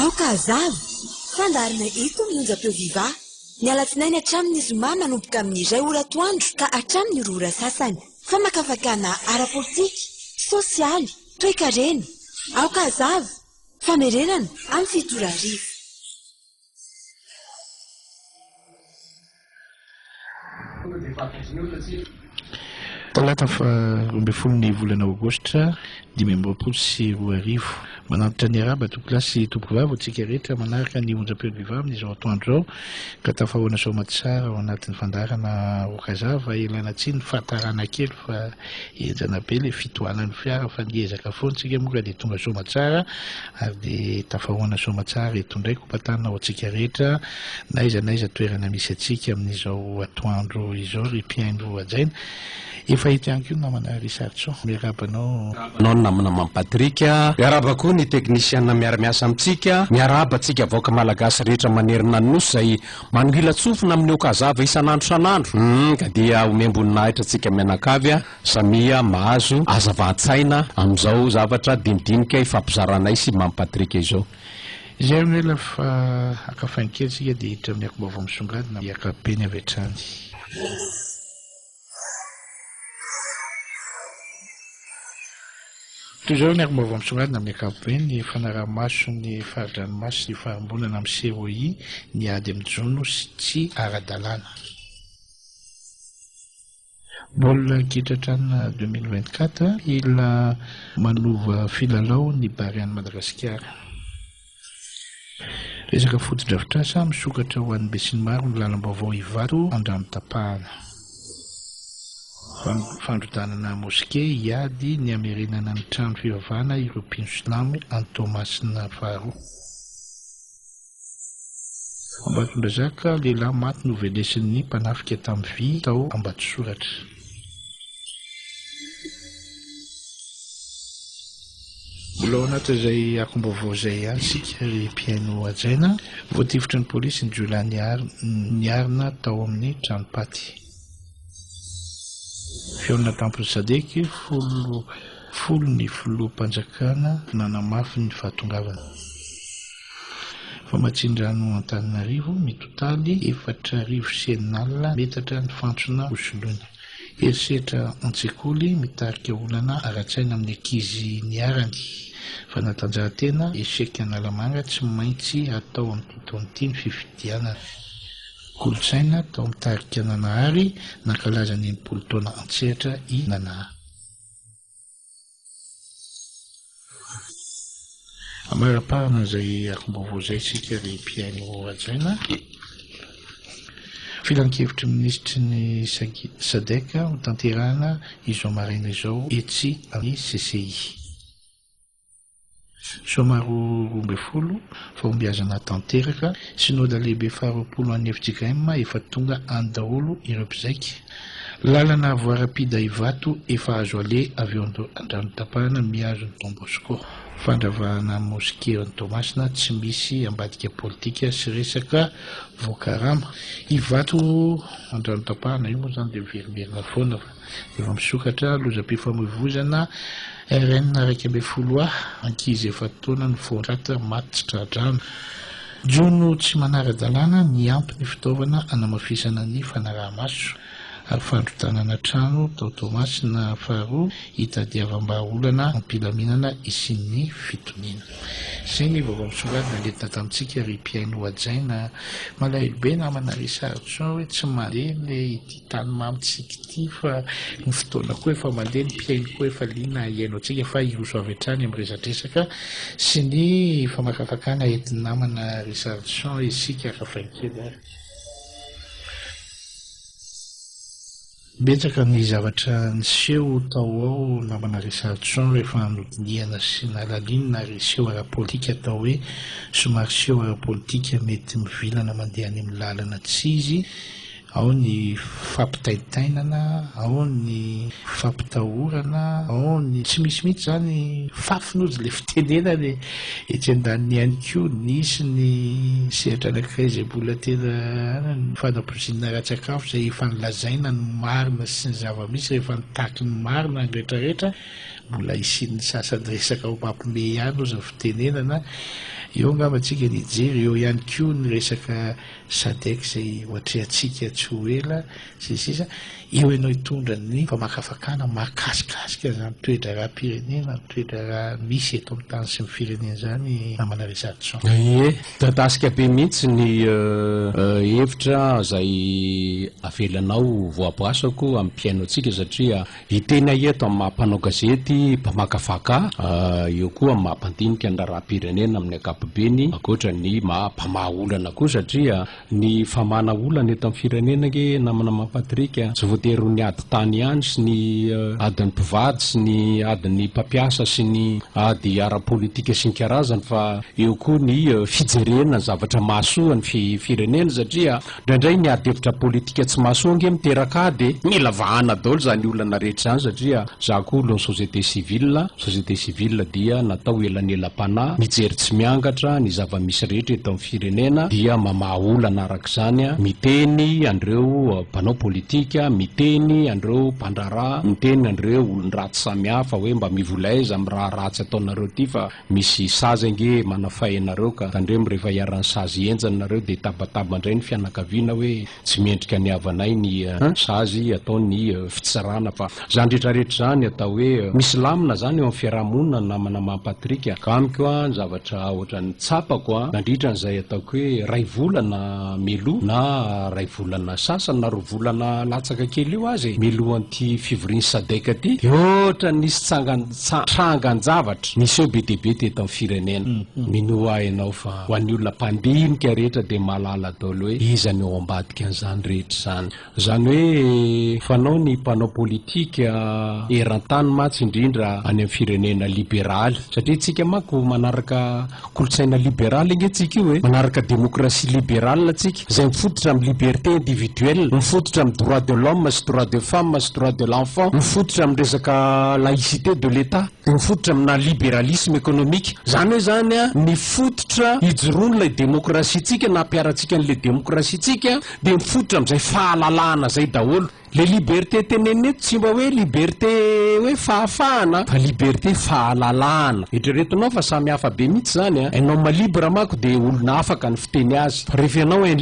Aoka hazava fandaharana eto ny onjam-peo Viva ny alatsinainy hatramin'ny zoma manomboka amin'ny iray ora atoandro ka hatramin'ny roa ora sasany. Famakafakana ara-politika, sosialy, toekarena. Aoka hazava. Famerenana amin'ny fito ora hariva. Talata faha roa ambin'ny folo ny volana aogositra dimy amby roapolo sy roa arivo. Manantitra ny arahaba tompolahy sy tompovavy ho antsika rehetra manaraka ny onjampeo Viva amin'izao atoandro izao ka tafahoana soamatsara ao anatin'ny fandaharana Aoka Zava ialana tsiny fa tarana kely fa henjana be ilay fitohanan'ny fiara fa ny ezaka foana tsika moa ka dia tonga soamatsara Ary dia tafahoana soamatsara eto indray Kopa-tana ho antsika rehetra, n'aiza n'aiza toerana misy antsika amin'izao atoandro izao ry mpihaino hajaina. Efa eto ihany koa ny namana Richard Tsoa. Miarahaba anao. Miarahaba anao ny namana Mamy Patrick. Miarahaba koa ny teknisiana miara-miasa amintsika. Miarahaba antsika vahoaka malagasy rehetra manerana ny Nosy izay manohilan-tsofina amin'ny Okazava isan'andro isan'andro. Humm ka dia omem-boninahitra antsika mianakavy a! Samia mahazo hazavantsaina amin'izao zavatra dinidinika ifampizaranay sy Mamy Patrick izao. Izay anie ilay fa haka fain kely isika dia hiditra amin'ny akom-baovao misongadina amin'ny ankapobeny avy hatrany. Toy izao ny akom-baovao misongadina amin'ny ankapobeny, ny fanaraha-mason'ny fari-dranomaso sy ny farimbonana amin'ny COI ny ady amin'ny jono sy tsy ara-dalàna. Baolina kitra hatrany deux mille vingt quatre hila manova filalao ny Barea an'i Madagasikara. Resaka fotodrafitrasa misokatra ho an'ny besinimaro ny lalam-baovao Ivato andrano tapahana. Fandrodanana moske hiady ny hamerenana ny trano fivavahana ireo mpino silamo any Toamasina faharoa. Ambatondrazaka, Lehilahy maty novenesin'ny mpanafika tamin'ny vy tao Ambatosoratra. Mbola ao anatin'izay akom-baovao izay ihany isika ry mpihaino hajaina. Voatifitry ny polisy ny jiolahy niarina tao amin'ny tranom-paty. Fihaonana tampon'ny Sadec, folo ny filoham-panjakana nanamafy ny fahatongavany. Famatsian-drano Antananarivo, Mitotaly efatra arivo cnal metatra ny fantsona ho soloina. Herisetra an-tsekoly mitarika olana ara-tsaina amin'ny ankizy niharany. Fanatanjahantena, Echec Analamanga tsy maintsy atao amin'ity taona ity ny fifidianana. Kolontsaina, Tao amin'ny tarika Nanahary, nankalaza ny enimpolo taona an-tsehatra i Nana. Amara-pahana izay angom-baovao izay isika ry mpihaino hajaina. Filankevitry ny minisitry ny Sadec ho tanterahina izao maraina izao etsy amin'ny CCI. Sôma roa roa ambin'ny folo, Fahombiazana tanteraka, Synoda Lehibe faharoapolo an'ny fjkm efa tonga any daholo ireo mpizaika, Lalana avo arapida Ivato efa azo aleha avy eo Andranotapahana mihazo ny Don Bosco, Fandravahana Mosquée any Toamasina tsy misy ambadika politika sy resaka voakarama, Ivato Andranotapahana io moa izany dia miverimerina foana fa. Efa misokatra lozam-pifamoivoizana RN iraika ambin'ny folo ha, ankizy efa-taona no voaraty maty tsy tra-drano. Jono tsy manara-dalàna niampy ny fitaovana hanamafisana ny fanaraha-maso, ary fandrodanana trano tao Toamasina faharoa hitadiavam-bahaolana am-pilaminana hisian'ny fitoniana. Izay ny vaovao misongadina nentina tamintsika ry mpihaino hajaina. Malahelo be namana ry Sarjo hoe tsy malemy ve ity. Tany mamy tsika ity fa ny fotoana koa efa mandeha, ny mpihaino koa efa liana hihaino antsika fa hiroso avy hatrany amin'ny resadresaka sy ny famakafakana entin'ny namana Richard Jean isika ravahinkely ary betsaka ny zavatra niseho tao ao namana Richard Jean rehefa nodinihana sy nalalinina ary seho ara-politika atao hoe somary seho ara-politika mety mivilana mandeha any amin'ny lalana tsy izy Ao ny fampitaintainana, ao ny fampitahorana, ao ny tsy misy mihitsy izany fafiny ozy ilay fitenenana e! Etsy andaniny ihany koa nisy ny sehatra anankiray izay mbola tena an, ny fanabozina ara-tsakafo izay efa nolazaina ny marina sy ny zava-misy rehefa nitaky ny marina ny rehetrarehetra, mbola hisian'ny sasany resaka ho mampimehy ihany ozy ny fitenenana, eo angamba tsika ny hijery, eo ihany koa ny resaka. Sadec izay ho atrehantsika tsy ho ela sy ny sisa Eo ianao hitondra ny famakafakana mahakasikasika izany toe-draharaham-pirenena, ny toe-draharaha misy eto amin'ny tany sy ny firenena izany Namana Richardson. Ie, midadasika be mihitsy ny hevitra izay avelanao voaboasako amin'ny mpihaino antsika satria. Hiteny ahy eto amin'ny maha mpanao gazety, mpamakafaka, eo koa amin'ny maha mpandinika ny raharaham-pirenena amin'ny ankapobeny, ankoatra ny maha mpamaha olana koa satria ny famahana olana eto amin'ny firenena ange namana maha Patrick a, tsy voatery ho ny ady tany ihany sy ny adin'ny mpivady sy ny adin'ny mpampiasa sy ny ady ara-politika sy ny karazany fa eo koa ny fijerena ny zavatra mahasoa ny firenena satria Indraindray ny adihevitra politika tsy mahasoa ange miteraka ady e! Mila vahana daholo izany olana rehetra izany satria za koa olon'ny société civile a, société civile dia natao ho elanelam-panahy, mijery tsy miangatra ny zava-misy rehetra eto amin'ny firenena dia mamaha olana araka izany, miteny an'ireo mpanao politika, miteny an'ireo mpandraharaha, miteny an'ireo olon-dratsy samihafa hoe mba mivola aiza amin'ny raha ratsy ataonareo ity fa. Misy sazy ange manafay anareo ka. Tandremo rehefa iharan'ny sazy henjana nareo dia tabataba indray ny fianakaviana hoe tsy mendrika ny havanay ny sazy atao ny fitsarana fa zany retraretra zany atao hoe misy lamina zany eo amin'ny fiarahamonina ny namana maha Patrick ka amiko a ny zavatra ohatran'ny tsapako a nandritra an'izay ataoko hoe ray volana mialoha na ray volana sasany na roa volana latsaka kely eo aza e mialohan'ity fivorian'ny sadec ty dia ohatran'ny nisy tsangany Tsa trangan-javatra niseho be dia be teto amin'ny firenena. Minoa ahy ianao fa ho an'ny olona mpandinika rehetra dia mahalala daholo hoe iza no ao ambadikan'izany rehetra izany. Izany hoe fanao ny mpanao politika eran-tany mantsy indrindra any amin'ny firenena liberaly satria isika manko manaraka Kolontsaina liberaly ange tsika io e! Manaraka démocratie libérale tsika, izay mifototra amin'ny liberté individuelle, mifototra amin'ny droit de l'homme sy droit de femme sy droit de l'enfant, mifototra amin'ny resaka laïcité de l'Etat, dia mifototra amina libéralisme économique. Izany hoe izany an, ny fototra ijoroan'ilay démocratie-tsika na ampiharantsika an'ilay démocratie-tsika dia mifototra amin'izay fahalalahana izay daholo. Le liberté tenenina eto tsy mba hoe liberté hoe fahafahana fa liberté fahalalahana. Eritreretinao fa samy hafa be mitsy zany an! Un homme libre manko de olona afaka ny fiteny azy fa ref ianao un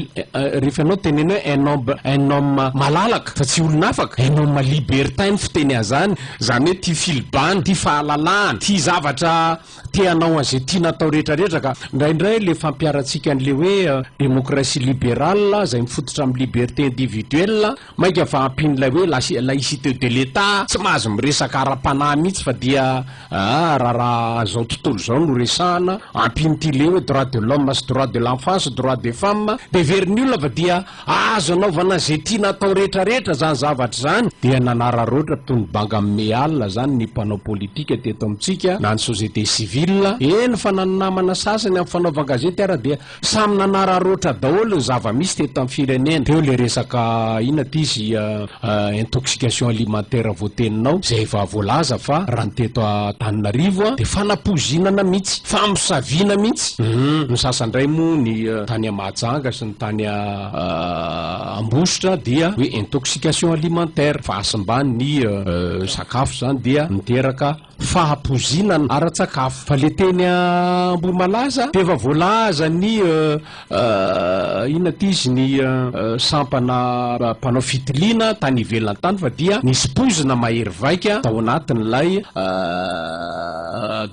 ref ianao teneno hoe un homme un homme malalaka fa tsy olona afaka, un homme libertin ny fiteny azany zany hoe tia filibana, tia fahalalahana, tia zavatra te hanao an'izay tiana atao rehetrarehetra ka indraindray le fampiharantsika an'le hoe demokrasia liberale izay mifototra amin'ny liberté individuelle mainka fa ampian'ilay hoe la- laïcité de l'Etat tsy mahazo miresaka ara-panahy mihitsy fa dia ah raha raha an'izao tontolo izao no resahana ampian'ity le hoe droit de l'homme sy droit de l'enfant sy droit des femmes dia heverin'ny olona fa dia Azo anaovana izay tiana atao rehetrarehetra izany zavatra izany. Dia nanararaotra toy ny banga amin'ny alina izany ny mpanao politika teto amintsika na ny société civile. Eny fa na ny namana sasany amin'ny fanaovan-gazety ara dia samy nanararaotra daholo ny zava-misy teto amin'ny firenena. Teo ilay resaka inona ity izy intoxication alimentaire voateninao izay efa voalaza fa raha ny teto Antananarivo dia fanapoizinana mihitsy, famosaviana mihitsy. Hum, ny sasany indray moa ny tany Mahajanga sy ny. tany Ambositra dia hoe intoxication alimentaire, fahasimban' ny sakafo, izany dia miteraka fahapozinan ara-tsakafo, fa le teny Ambohimalaza dia efa voalazan' ny inona ty izy ny sampana mpanao fitiliana tany ivelany tany fa dia nisy poizina mahery vaika tao anatin' ilay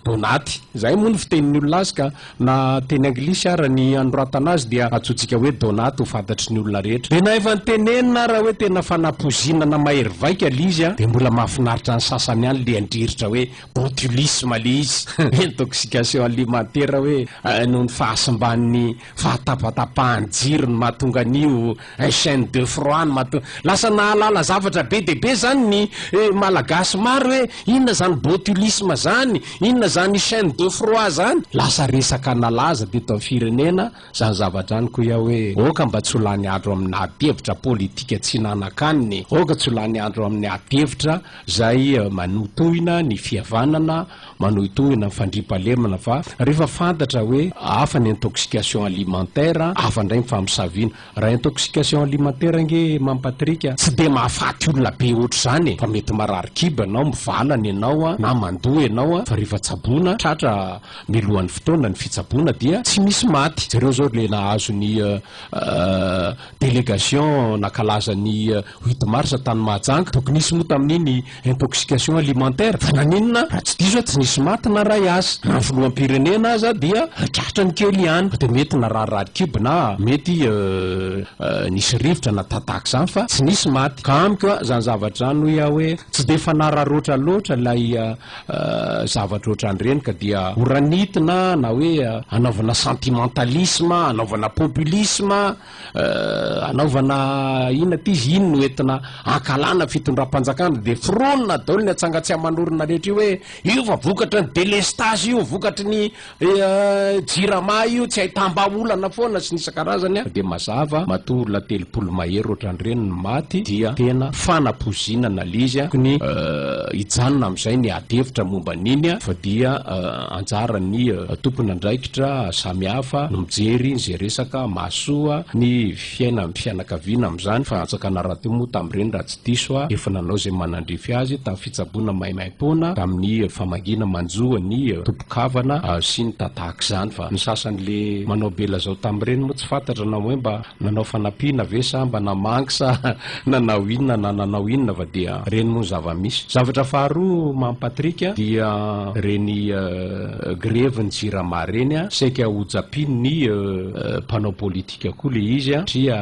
donaty, izay moa ny fitenin' ny olona azy ka Na teny anglisy ara ny anoratana azy dia antsointsika hoe donut ho fantatry ny olona rehetra. Dia na efa nitenenina ara hoe tena fanapozinana mahery vaika le izy an, dia mbola mahafinaritra ny sasany any le handriritra hoe botulisme le izy, intoxication alimentaire hoe noho ny fahasimban'ny fahatapatapahan'ny jiro no mahatonga an'io Un chaine de froid ny mahatonga. Lasa nahalala zavatra be dia be zany ny Malagasy maro hoe inona zany botulisme zany, inona zany chaine de froid zany. Lasa resaka nalaza teto amin'ny firenena zany zavatra zany ko ia hoe ok mba tsy ho lany andro amin'ny adihevitra politika tsy nanakaniny, ok tsy ho lany andro amin'ny adihevitra zay manotohina ny fihavanana Manohitohina ny fandriampahalemana fa rehefa fantatra hoe hafa ny intoxication alimentaire, hafa indray ny famosaviana. Raha intoxication alimentaire ange Mamy Patrick a! Tsy dia mahafaty olona be ohatr'izany e! Fa mety marary kibo ianao, mivalana ianao na mandoa ianao fa rehefa tsaboina, tratra milohan'ny fotoana ny fitsaboana dia tsy misy maty. Jereo izao ilay nahazo ny délégation nankalaza ny huit mars tany Mahajanga. Tokony hisy moa tamin'iny intoxication alimentaire, fa naninona raha tsy diso aho tsy nisy maty na ray aza, na ny filoham-pirenena aza dia tratrany kely ihany, dia mety nararirary kibo na mety nisy rivotra na ta tahaka izany fa tsy nisy maty, ka amiko a, izany zavatra izany hoy aho hoe tsy dia fanararoatra loatra ilay zavatra ohatran'ireny ka dia horanitina na hoe hanaovana sentimentalisme, hanaovana populisme. Hanaovana inona aty izy? Iny no entina hankahalana fitondram-panjakana dia foronina daolo ny atsangatsy aman'orina rehetra io hoe io fa vokatry ny delestazy io, vokatry ny jirama io, tsy ahitam-bahaolana foana sy ny isan-karazany an! Dia mazava matoa olona telopolo mahery ohatran'ireny no maty dia tena fanapoizinana le izy an! Tokony hijanona amin'izay ny ady hevitra momba an'iny an! Fa dia Anjaran'ny tompon'andraikitra samihafa no mijery izay resaka mahasoa ny fiainan'ny fianakaviana amin'izany. Fanjakana Ratomo tamin'ireny raha tsy diso aho, efa nanao izay manandrify azy tamin'ny fitsaboana maimaimpoana tamin'ny famangiana manjo ny tompon-kavana sy ny ta tahak'izany fa ny sasany le manao belazao tamin'ireny moa tsy fantatra na hoe mba nanao fanampiana ve sa mba namangy sa Nanao inona na nanao inona va dia reny moa ny zava-misy. Zavatra faharoa Mamy Patrick dia reny grevy ny jirama reny saika ho japin ny mpanao politika koa le izy satria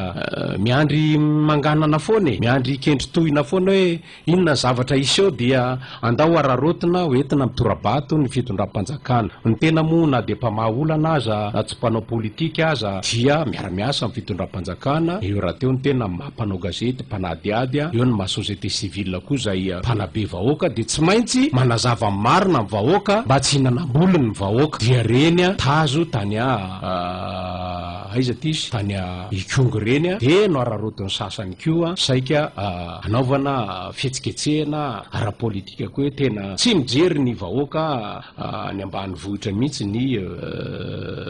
miandry manganana foana e! Miandry kendry tohina foana hoe. Inona zavatra hiseho dia andao hararaotina ho entina amin'ny tora-bato ny fitondram-panjakana. Ny tena moa na dia mpamaha olana aza na tsy mpanao politika aza dia miara-miasa amin'ny fitondram-panjakana, eo rahateo ny tena maha mpanao gazety, mpanadihady, eo ny maha société civile koa izay mpanabe vahoaka dia tsy maintsy manazava ny marina amin'ny vahoaka mba tsy hinanam-boliny ny vahoaka. Dia reny tazo tany a aiza ity izy tany a ikongo reny dia nohararaotin'ny sasany koa saika a. anaovana fihetsiketsehana ara-politika koa hoe tena tsy mijery ny vahoaka any ambanivohitra mihitsy ny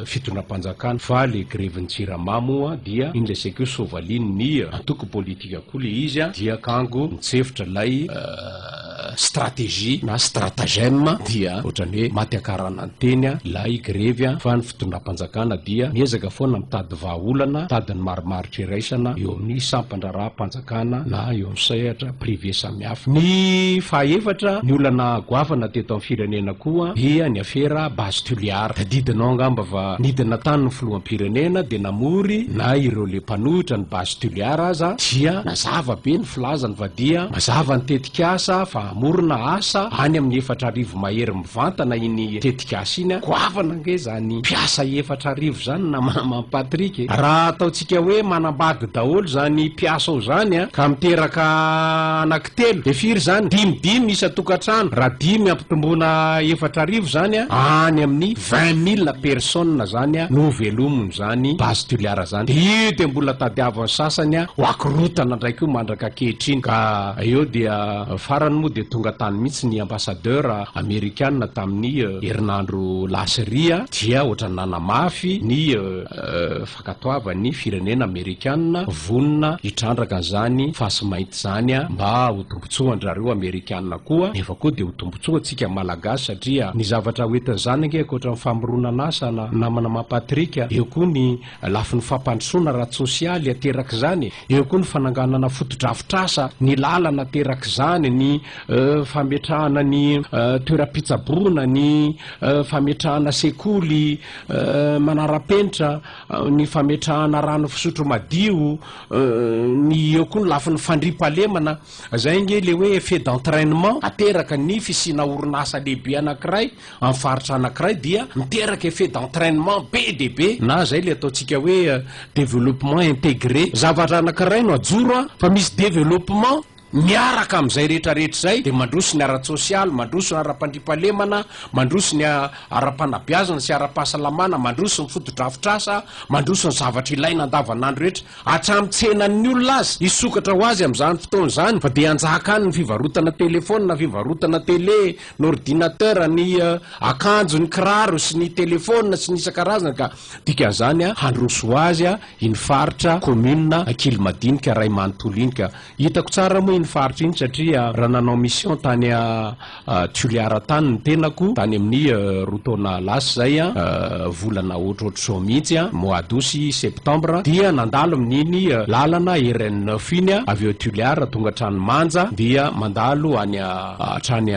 fitondram-panjakana fa le grevin'ny jirama moa dia iny lazaiko hoe sovalin' ny antoko politika koa le izy dia kango nitsefotra ilay stratégie na stratagème dia ohatrany hoe maty akarana ny teny ilay grevy fa ny fitondram-panjakana dia miezaka foana mitady vahaolana, mitady ny marimaritra iraisana eo amin'ny sampan-draharaham-panjakana na eo amin'ny sehatra privé samihafa. Ny fahaefatra, ny olana goavana teto amin'ny firenena koa dia ny afera Base Toliara. Tadidinao angamba fa nidina tany ny filoham-pirenena dia namory na ireo le mpanohitra ny Base Tulear aza dia nazava be ny filazany fa dia mazava ny tetikasa fa hamorona asa any amin'ny efatra arivo mahery mivantana iny tetikasa iny, goavana ange izany mpiasa efatra arivo izany na maman Patrick e! Raha ataontsika hoe manambady daholo izany mpiasa ao izany ka miteraka Telo dia firy izany? Dimy dimy isan-tokantrano, raha dimy ampitomboina efatra arivo izany an, any amin'ny vingt mille personnes izany an no ho velominy izany base tuliara izany. Dia io dia mbola tadiavin'ny sasany an ho akorotana indray koa mandraka ankehitriny. Ka eo dia farany moa dia tonga tany mihitsy ny ambassadeur amerikana tamin'ny herinandro lasa ery an, dia ohatran'ny nanamafy ny. Ankatoava ny firenena amerikana vonona hitrandraka an'izany fasy mainty izany mba ho tombotsoan-drareo amerikana koa nefa koa dia ho tombotsoa antsika malagasy satria ny zavatra ho entin' izany ange ankoatra ny famoronana asa na namana mampatrick eo koa ny lafiny fampandrosoana ara-tsosialy aterak' izany eo koa ny fananganana fotodrafitrasa ny lalana aterak' izany ny fametrahana ny toeram-pitsaboana ny fametrahana sekoly Manara-penitra ny fametrahana rano fisotro madio, ny eo koa ny lafiny fandriam-pahalemana, izay ange ilay hoe effet d'entrainement ateraka ny fisiana orinasa lehibe anankiray amin'ny faritra anankiray dia miteraka effet d'entrainement be dia be na izay ilay ataontsika hoe développement intégré. Zavatra anankiray no ajoro fa misy développement Miaraka amin'izay rehetrarehetra izay dia mandroso ny ara-tsosialy, mandroso ny ara-pandriampahalemana, mandroso ny ara-panabeazana sy ara-pahasalamana, mandroso ny fotodrafitrasa, mandroso ny zavatra ilaina andavanandro rehetra, hatramin'ny tsenan'ny olona aza. Hisokatra ho azy amin'izany fotoana izany fa dia hanjaka any ny fivarotana telefaonina, fivarotana tele, ny ordinateur, ny akanjo, ny kiraro sy ny telefaonina sy ny isan-karazany ka dikan'izany handroso ho azy iny faritra, commune, Ankilomadinika, Raimanontolo iny ka Hitako tsara moa iny faritra iny satria raha nanao mission tany Toliara tany ny tenako tany amin'ny roa taona lasa izay, volana ohatrohatr'izao mihitsy, mois d'aout sy septembre, dia nandalo amin'iny lalana RN neuf iny aho avy eo Toliara tonga hatrany Manja dia mandalo any hatrany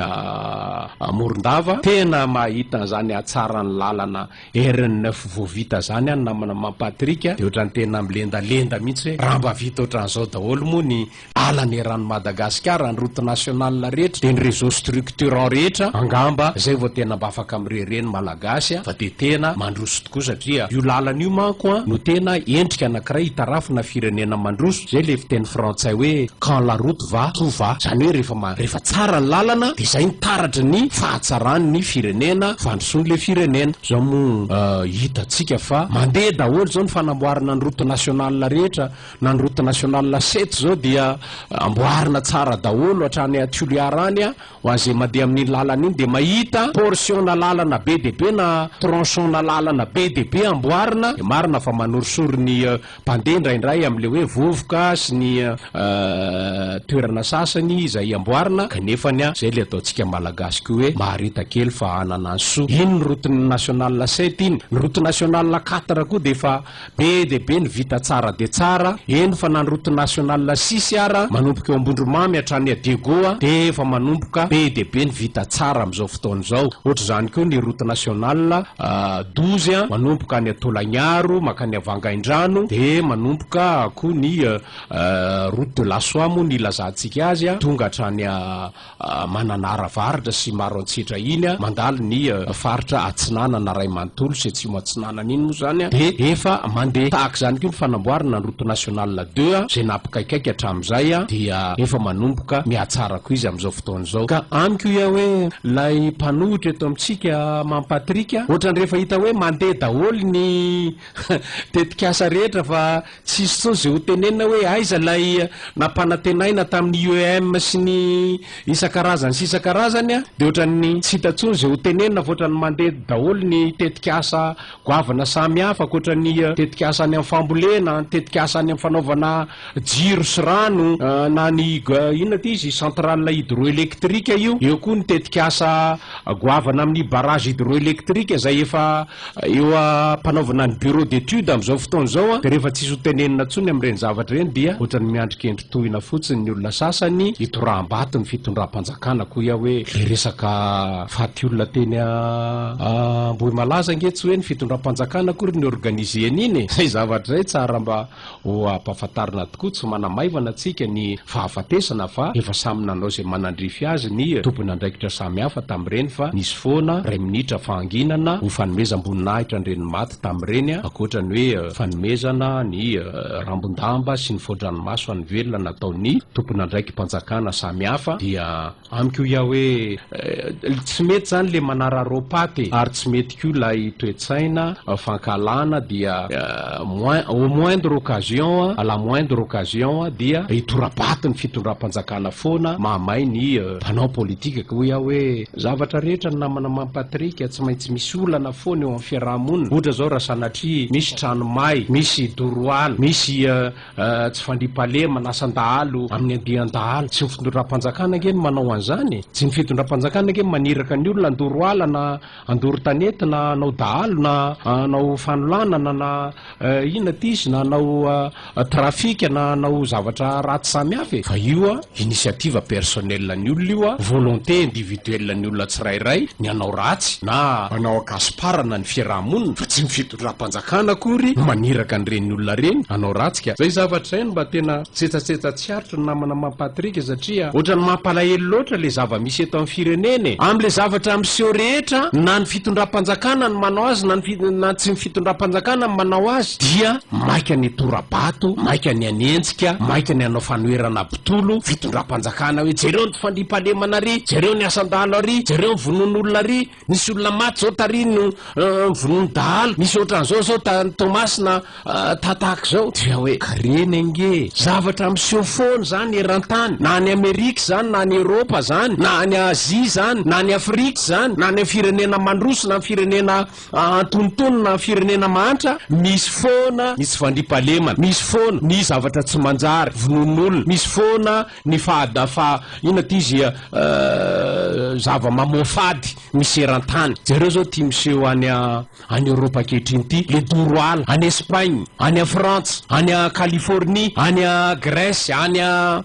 Morondava, tena mahita an'izany hatsaran'ny lalana Ernf vao vita zany an namana maman Patrick de otrany tena milendalenda mihitsy hoe raha mba vita otran'zao daholo moa ny lalana eran'i Madagasikara ny route nationale rehetra de ny réseau structurant rehetra angamba zay vao tena mba afaka mireo reny malagasy an fa de tena mandroso tokoa satria io lalana io manko an no tena endrika anakiray hitarafina firenena mandroso zay le fiteny frantsay hoe quand la route va ho va, izany hoe rehefa ma, rehefa tsara ny lalana dia izay no taratry ny fahatsaran' ny firenena, fandrosoan' ilay firenena. Izao moa hitantsika fa mandeha daholo izao ny fanamboarana ny route nationale rehetra, na ny route nationale sept izao dia amboarina tsara daholo hatrany à Toliara any, ho an'izay mandeha amin' iny lalana iny dia mahita portion-na lalana be dia be na tronçon-na lalana be dia be amboarina, dia marina fa manorisory ny. Mpandeha indraindray amin'ilay hoe vovoka sy ny toerana sasany izay amboarina kanefa ny izay ilay ataontsika Malagasy koa hoe mahareta kely fa hanana ny soa. Iny ny route nationale sept iny. Ny route nationale quatre koa dia efa be dia be ny vita tsara dia tsara, eny fa na ny route nationale six ara manomboka eo Ambondromamy hatrany à Diego dia efa manomboka be dia be ny vita tsara amin'izao fotoana izao. Ohatr'izany koa ny route nationale. Dozy, manomboka any Tolagnaro mankany Vangaindrano dia manomboka koa ny route de la soie moa ny ilazantsika azy a, tonga hatrany Mananara avaratra sy Maroantsetra iny a, mandalo ny faritra atsinanana ray manontolo sy atsimo atsinanana iny moa izany a, dia efa mandeha. Tahaka izany koa ny fanamboarana ny route nationale deux a, izay nampikaikaika hatramin'izay a, dia efa manomboka mihatsara koa izy amin'izao fotoana izao. zao. Ka amiko ia hoe lay mpanohitra eto amintsika Mamy Patrick a, ohatrany rehefa hita hoe mandeha daholo ny tetikasa rehetra fa tsisy tsony ze ho tenenina hoe aiza lay nampanantenaina tamin'ny IEM sy ny isan-karazany sy isan-karazany a, de ohatrany tsy hita tsony ze ho tenenina fa ohatrany mandeha daholo ny tetikasa goavana samy hafa akoatrany tetikasa any amin'ny fambolena, tetikasa any amin'ny fanaovana jiro sy rano na ny inona ity izy centrale hydroélectrique io, eo koa ny tetikasa goavana amin'ny barrage hydroélectrique izay efa eo am-panaovana ny bureau d'étude amin'izao fotoana izao dia rehefa tsisy ho tenenina intsony amin'ireny zavatra ireny dia ohatran'ny miandrin-kendry tohina fotsiny ny olona sasany hitoraham-bato ny fitondram-panjakana koa ia hoe ilay resaka faty olona teny Ambohimalaza ange tsy hoe ny fitondram-panjakana akory no organisé an'iny e! izay zavatra izay tsara mba Ho ampahafantarina tokoa, tsy manamaivana antsika ny fahafatesana fa efa samy nanao izay manandrify azy ny tompon'andraikitra samihafa tamin'ireny fa nisy foana iray minitra fahanginana ho fanomezam-boninahitra an'ireny maty tamin'ireny ankoatra ny hoe fanomezana ny rambon-damba sy ny fao-dranomaso an'ny velona nataon'ny tompon'andraiki-panjakana samihafa dia Amiko ia hoe tsy mety zany le manararao paty e, ary tsy mety koa ilay toetsaina fankahalana dia moins au moindre occasion à la moindre occasion dia hitora-bato ny fitondram-panjakana foana mahamay ny mpanao politika ka hoy aho hoe zavatra rehetra ny namana Mamy Patrick tsy maintsy misy olana foana eo amin'ny fiaraha-monina ohatra zao raha sanatria misy trano may, misy doro ala, misy Tsy fandriampahalemana, asan-dahalo amin'ny andian-dahalo. Tsy ny fitondram-panjakana ange no manao an'izany e! Tsy ny fitondram-panjakana ange no maniraka ny olona handoro ala na handoro tanety na hanao dahalo na hanao fanolanana na inona ity izy na hanao trafika na hanao zavatra ratsy samy hafa e! Fa io an, initiative personnelle an'ny olona io an, volonté individuelle an'ny olona tsirairay ny hanao ratsy na hanao an-kasiparana ny fiaraha-monina fa tsy ny Rahampanjakana akory no maniraka an'ireny olona ireny hanao ratsy ka. Izay zavatra izay no mba tena tsetsatsetsa tsy aritry ny namana Mamy Patrick satria ohatran'ny mampalahelo loatra ilay zava-misy eto amin'ny firenena e! Amin'ilay zavatra miseho rehetra na ny fitondram-panjakana no manao azy na ny na tsy ny fitondram-panjakana no manao azy dia maika ny tora-bato, maika ny hanenjika, maika ny hanao fanoherana mpitolo fitondram-panjakana hoe jereo ny fandriampahalemana ary jereo ny asan-dahalo ary jereo ny vonoan'olona ary. Nisy olona maty zao tary no vonoiny dahalo, misy ohatran'izao zao tany Toamasina ta tahak'izao, dia hoe green ange e! Zavatra miseho foana izany eran-tany, na any Amerika izany, na any Eropa izany, na any Azia izany, na any Afrika izany, na any amin'ny firenena mandroso, na amin'ny firenena antonontonony, na amin'ny firenena mahantra, misy foana ny tsy fandriampahalemana, misy foana ny zavatra tsy manjary, vonoin'olona, misy foana Ny fahadafa ina ity zia zava mamoafady misy eran-tany. Jereo zao ty miseho any any Europe ankehitriny ty, le doro ala, any Espagne, any a Frantsa, any a Californie, any a Grèce, any a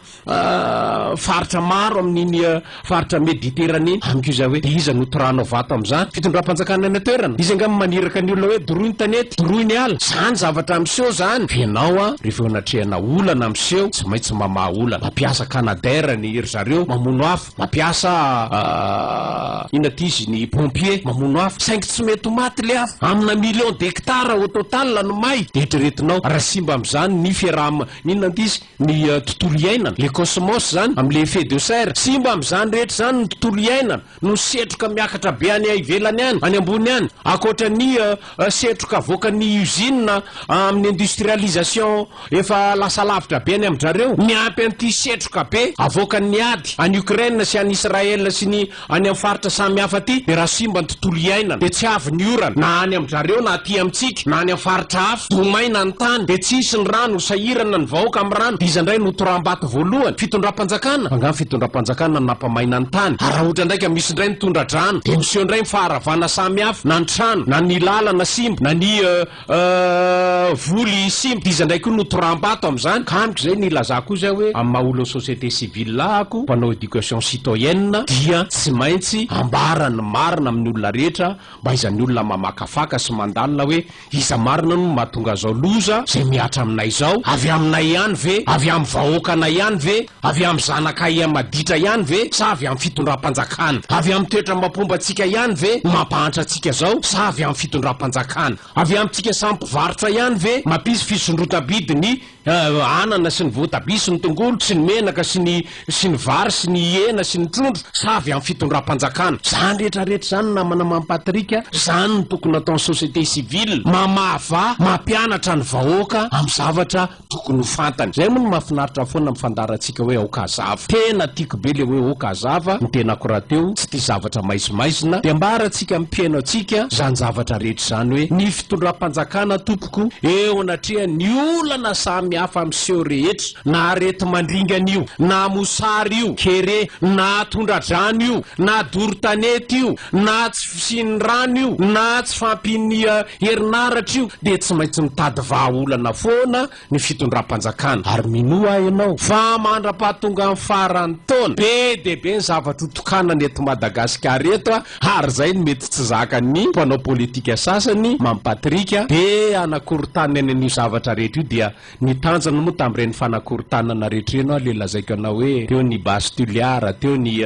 faritra maro amin'iny Faritra Mediterane, amiko izay hoe dia iza no torahana ho vato amin'izany? Fitondram-panjakana any an-toerana? Izy angamba maniraka ny olona hoe doroy ny tanety, doroy ny ala. Izany zavatra miseho izany. Fa ianao an, rehefa eo anatrehana olana miseho, tsy maintsy mamaha olana. Mampiasa canadair ny ry zareo, mamono afo. Mampiasa inona ity izy, ny pompiers, mamono afo. Saingy tsy mety ho maty ilay afo. Amina millions d'hectares au total no may. Dia eritreretinao, raha simba amin'izany ny fiaraha-, inona ity izy? ny tontolo iainana, le cosmos izany, amin'ny le effet de serre, simba amin'izany rehetra izany ny tontolo iainana noho ny setroka miakatra be any ivelany any, any ambony any, ankoatra ny setroka avoakan'ny usines amin'ny industrialisation efa lasa lavitra be any amin-dry zareo, miampy an'ity setroka be avoakan'ny ady any Ukraine sy any Israël sy ny Any amin'ny faritra samy hafa aty dia raha simba ny tontolo iainana dia tsy avy ny orana, na any amin-dRareo na aty amintsika na any amin'ny faritra hafa. Do maina ny tany dia tsy hisy ny rano, ho sahirana ny vahoaka amin'ny rano dia iza indray no ho toram-bato voalohany? Fitondram-panjakana? Angaha ny fitondram-panjakana no nampamaina ny tany? Ary raha ohatra indray ka misy indray ny tondra-drano dia miseho indray ny faharavana samy hafa, na ny trano, na ny lalana simba, na ny. Ahh voly simba d'iza ndray koa no tramba ato amzany ka amiko zay nilazako io zay hoe amin'ny maha olon'ny société civile ahako mpanao éducation citoyenne dia tsy maintsy ambara ny marina amin'ny olona rehetra mba izany olona mamakafaka sy mandalina hoe iza marina no mahatonga zao loza zay mihatra aminay zao avy aminay ihany ve avy amin'ny vahoakanay ihany ve Avy amin'ny zanakay amaditra ihany ve sa avy amin'ny fitondram-panjakana? Avy amin'ny toetra amam-pombantsika ihany ve no mampahantra antsika izao sa avy amin'ny fitondram-panjakana? Avy amintsika samy mpivarotra ihany ve mampisy fisondrotam-bidy ny anana sy ny voatabia sy ny tongolo sy ny menaka sy ny sy ny vary sy ny hena sy ny trondro sa avy amin'ny fitondram-panjakana? Izany rehetra rehetra izany namana Mamy Patrick a! Izany no tokony nataon'ny société civile, mamava, mampianatra ny vahoaka amin'ny zavatra tokony ho fantany. Zay moa no mafinaritra foana mifandarantsika hoe aoka hazava. Tena tiako be le hoe ok hazava ny tenako rahateo tsy tia zavatra maizimaizina de ambarantsika am mpihaino antsika zany zavatra rehetra zany hoe ny fitondrampanjakana tompoko eo anatrehan ny olana samy hafa miseho rehetra na aretimandringana io na mosary io kere na tondradrano io na dorotanety io na tsy fisian'ny rano io na tsy fampinia Herinaratra io dia tsy maintsy mitady vahaolana foana ny fitondram-panjakana ary minoa aho ianao fa mandra-pahatongan'ny faran'ny taona, be dia be ny zavatra ho tokanana eto Madagasikara eto ary izay no mety tsy zakan'ny mpanao politika sasany, Mamy Patrick, dia hanakorontana ny an'io zavatra rehetra io dia Ny tanjony moa tamin'ireny fanakorontanana rehetra ireny ho'a ilay lazaiko anao hoe teo ny base tuliara, teo ny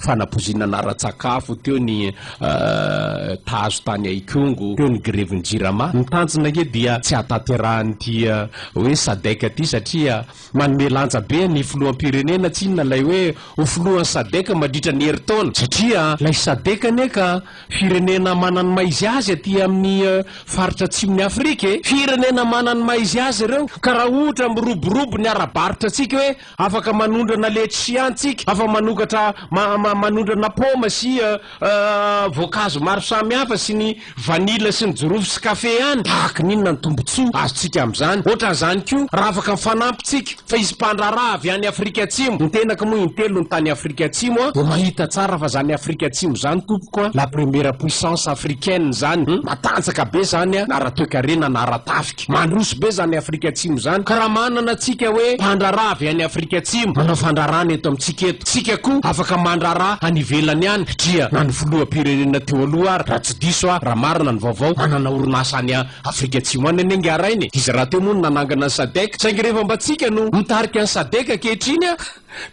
fanapozinana ara-tsakafo, teo ny tahazo tany Ikongo, teo ny grevin'ny Jirama. Ny tanjona ange dia tsy hahatanterahan'ity hoe Sadec ity satria manome lanja be ny filoham-pirenena tsinona ilay hoe ho filohan'ny Sadec mandritra ny herintaona satria ilay Sadec anie ka Firenena mana ny maha izy azy aty amin'ny faritra atsimon'i Afrika e! Firenena mana ny maha izy azy ireo ka raha ohatra miroborobo ny ara-barotra antsika hoe afaka manondrana letchi antsika, afaka manokatra manondrana paoma sy voankazo maro samihafa sy ny vanila sy ny jirofo sy kafe any, tahaka ny inona ny tombotsoa azontsika amin'izany? Ohatran'izany koa raha afaka mifanampy tsika. Fa izy mpandraharaha avy any Afrika Atsimo. Ny tenako moa in-telony tany Afrika Atsimo a, dia mahita tsara fa izany Afrika Atsimo izany tompoko a, la première puissance africaine izany hum, matanjaka be izany a, na ara-toekarena na ara-tafika. Mandroso be izany Afrika Atsimo izany. Ka raha manana tsika hoe mpandraharaha avy any Afrika Atsimo manao fandraharahana eto amintsika eto, tsika koa afaka mandraharaha any ivelany any, dria na ny filoham-pirenena teo aloha ary, raha tsy diso aho, raha marina ny vaovao, manana orinasa any Afrika Atsimo any anie ngah rainy e! Izy rahateo moa no nanangana ny Sadec, saingy rehefa mba tsika no mitarika ny Sadec ankehitriny an!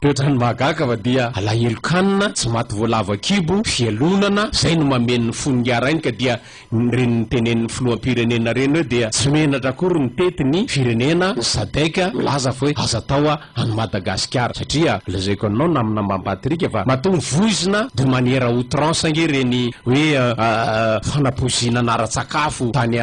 Dia ohatran'ny mahagaga fa dia alahelo kanina, tsy maty voalavo an-kibo, fialonana, izay no mameno ny fony ngah rainy ka dia ireny notenenin'ny Filoham-pirenena ireny hoe dia tsy menatra akory mitety ny firenena ny Sadec milaza fa hoe aza atao a! any Madagasikara satria lazaiko anao namana mampatrika fa matoa mivoizina de manière à outrance ange ireny hoe fanapoizinana ara-tsakafo tany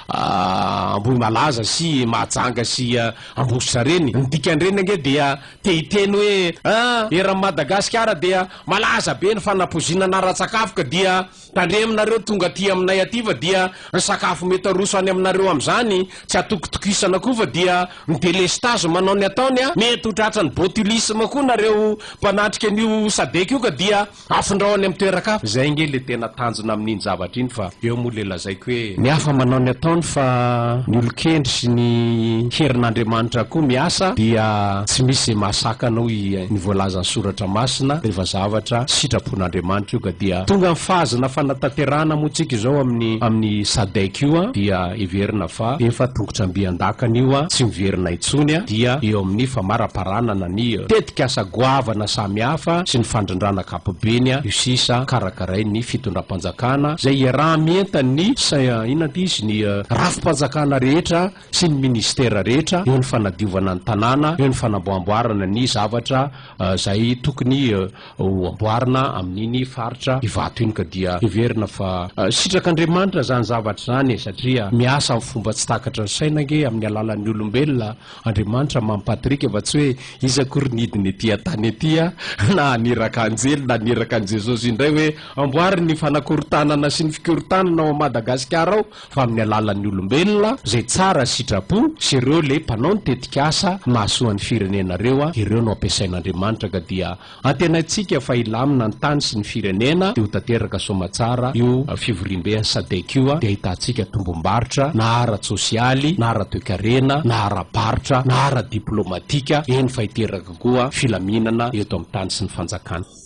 Ambohimalaza sy Mahajanga sy Ambositra ireny, ny dikan'ireny ange dia te hiteny hoe an! eran'i Madagasikara dia malaza be ny fanapoizinana ara-tsakafo ka dia Tandreminareo tonga aty aminay aty fa dia ny sakafo mety aroso any aminareo amin'izany tsy atokitokisana koa fa dia ny delestazy manao ny ataony a! Mety ho tratran'ny botulisme koa nareo mpanatrika an'io sadec io ka dia afindrao any amin'ny toeran-kafa. Izay ange le tena tanjona amin'iny zavatra iny fa eo moa le lazaiko hoe. Ny hafa manao ny ataony fa ny olon-kendry sy ny herin'Andriamanitra koa miasa dia tsy misy izay mahasakana hoy ny voalazan'ny soratra masina rehefa zavatra sitrapo. tompon'Andriamanitra io ka dia tonga amin'ny fahazana fanatanterahana moa tsika izao amin'ny amin'ny sadec io an dia heverina fa efa tongotramby an-dakana io an tsy miverina intsony an dia eo amin'ny famaraparanana ny tetikasa goavana samy hafa sy ny fandrindrana ankapobeny an io sisa karakarain'ny fitondram-panjakana izay iaraha-mientan'ny sa inona ity izy ny rafi-panjakana rehetra sy ny ministera rehetra eo ny fanadiovana ny tanàna, eo ny fanamboamboarana ny zavatra izay tokony ho amboarina amin'iny faritra Ivato iny ka dia heverina fa sitrak'Andriamanitra izany zavatra izany e! satria miasa amin'ny fomba tsy takatra ny saina ange amin'ny alalan'ny olombelona Andriamanitra mampahatirika fa tsy hoe izy akory nidina ety an-tany ety na haniraka anjely na haniraka an'i Jesosy indray hoe amboary ny fanakorontanana sy ny fikorontanana ao Madagasikara ao fa amin'ny alalan'ny olombelona izay tsara sitrapo sy ireo le mpanao ny tetikasa mahasoa ny firenena ireo a, ireo no ampiasain'Andriamanitra ka dia antenaintsika fa hilamina ny tany sy ny firenena dia ho tanteraka soamatsara io fivoriambe an'i Sadec io a, dia ahitantsika tombombarotra na ara-tsosialy na ara-toekarena na ara-barotra na ara-diplaomatika, eny fa hiteraka koa filaminana eto amin'ny tany sy ny fanjakana.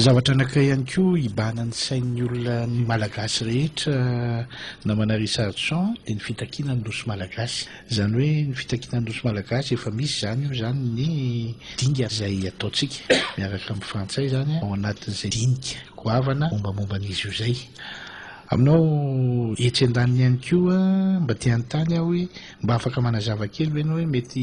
Zavatra anankiray ihany koa hibahana ny sain'ny olona ny Malagasy rehetra namana Richardson dia ny fitakiana ny Nosy Malagasy. Izany hoe ny fitakiana ny Nosy Malagasy efa misy izany io izany ny dingana izay ataontsika miaraka amin'ny frantsay izany ao anatin'izay dinika goavana mombamomba an'izy io izay. Aminao etsy andaniny ihany koa mba te hanontany aho hoe mba afaka manazava kely ve ianao hoe mety